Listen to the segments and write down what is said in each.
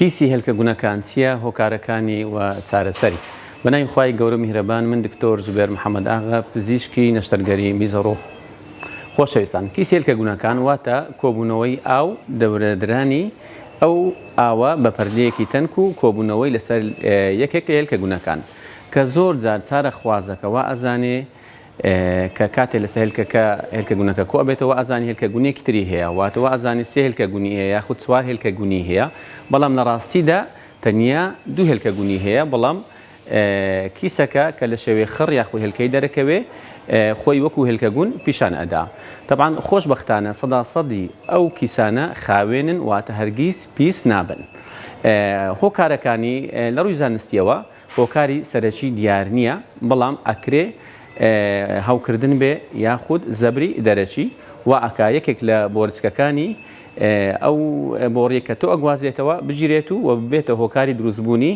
کیسی هێلکە گونەکان چیە هۆکارەکانی و چارەسەری. بەناوی خوای گەورە و میهرەبان من دکتۆر زوبێر محمد ئاغا پزیشکی نەشتەرگەری میز ڕوو. خۆشەویستان کیسی هێلکە گونەکان واتە کۆبوونەوەی ئاو دەورەدرانی ئەو ئاوە بە پەردەیەکی تەنک و کۆبوونەوەی لەسەر یەکێک لە هێلکە گونەکان کە زۆر جار چارە خوازەکە وائەزانێ کە کاتێ لەسەر هێلکەکە هێلکە گونەکە کۆ ئەبێتەوە ئەزانی هێلکە گونێکی تری هەیە واتە وا ئەزانی سێ هێلکە گونی هەیە یاخود چوار هێلکە گونی هەیە بەڵام لە ڕاستیدا تەنیا دوو هێلکە گونی هەیە بەڵام کیسەکە کە لە شەوێ خڕ یاخود هێلکەی دەرەکەوێ خۆی وەکو هێلکە گون پیشان ئەدا تەبان خۆش بەختانە سەدا سەدی ئەو کیسانە خاوێنن واتە هەرگیز پیس نابن هۆکارەکانی لە ڕووی زانستیەوە هۆکاری سەرەکی دیار نییە، بەڵام ئەکرێ هەوکردن بێ یاخود زەبری دەرەکی وا ئەکا یەکێک لە بۆرچکەکانی ئەو بۆڕییەی کە تۆ ئەگوازرێتەوە بگیرێت و ببێتە هۆکاری دروستبوونی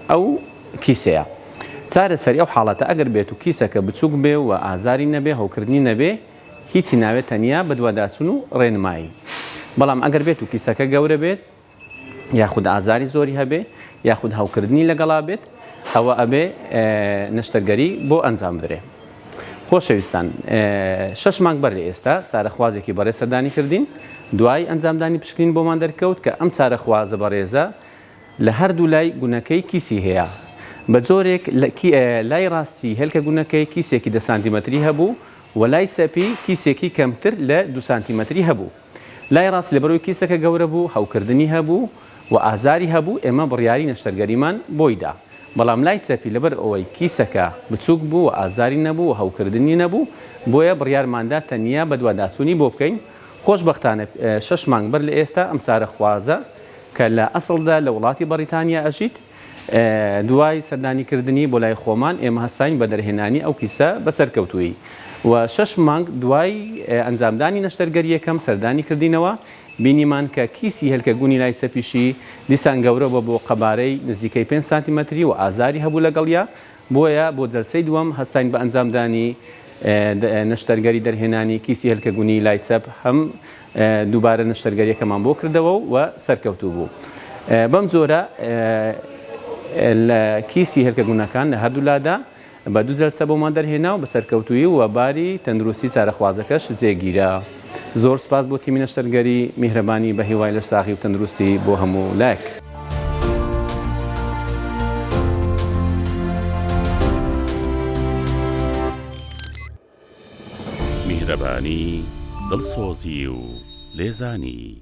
ئەو کیسەیە. چارەسەری ئەو حاڵەتە ئەگەر بێت و کیسەکە بچووک بێ و ئازاری نەبێ هەوکردنی نەبێ هیچی ناوێ تەنیا بەدواداچوون و ڕێنمایی. بەڵام ئەگەر بێت و کیسەکە گەورە بێت، یاخود ئازاری زۆری هەبێ یاخود هەوکردنی لەگەڵا بێت ئەوە ئەبێ نەشتەرگەری بۆ ئەنجام بدرێ خۆشەویستان شش مانگ بەر لە ئێستا چارەخوازێکی بەڕێ سەردانی کردین دوای ئەنجامدانی پشکنین بۆمان دەرکەوت کە ئەم چارەخوازە بەڕێزە لە هەردوو لای گونەکەی کیسی هەیە بە جۆرێک لای ڕاستی هێلکە گونەکەی کیسێکی دە سانتیمەتری هەبوو و لای چەپی کیسێکی کەمتر لە دو سانتیمەتری هەبوو. لای ڕاست لەبەرەوەی کیسەکە گەورە بوو، هەوکردنی هەبوو و ئازاری هەبوو، ئێمە بڕیاری نەشتەرگەریمان بۆی دا. بەڵام لای چەپی لەبەر ئەوەی کیسەکە بچووک بوو و ئازاری نەبوو و هەوکردنی نەبوو، بۆیە بڕیارمان دا تەنیا بەدواداچوونی بۆ بکەین. خۆشبەختانە شەش مانگ بەر لە ئێستا ئەم چارەخوازە کە لە ئەسڵدا لە وڵاتی بەڕیتانیا ئەژیت، دوای سەردانی کردنی بۆ لای خۆمان ئێمە هەستاین بە دەرهێنانی ئەو کیسە بە سەرکەوتوویی و شەش مانگ دوای ئەنجامدانی نەشتەرگەرییەکەم سەردانی کردینەوە بینیمان کە کیسی هێلکە گونی لای چەپیشی دیسان گەورە بۆ بۆ قەبارەی نزیکەی پێنج سانتیمەتری و ئازاری هەبوو لەگەڵیا بۆیە بۆ جەلسەی دووەم هەستاین بە ئەنجامدانی نەشتەرگەری دەرهێنانی کیسی هێلکە گونیی لای چەپ هەم دووبارە نەشتەرگەریەکەمان بۆ کردەوە و سەرکەوتوو بوو بەم جۆرە لە کیسی هێلکە گونەکان لە هەردوو لادا بە دوو جەلسە بۆمان دەرهێنا و بە سەرکەوتوویی و باری تەندروستی چارەخوازەکەش جێگیرا. زۆر سوپاس بۆ تیمی نەشتەرگەری میهرەبانی بە هیوای لەش ساغی و تەندروستی بۆ هەموو لایەک. میهرەبانی، دڵسۆزی و لێزانی.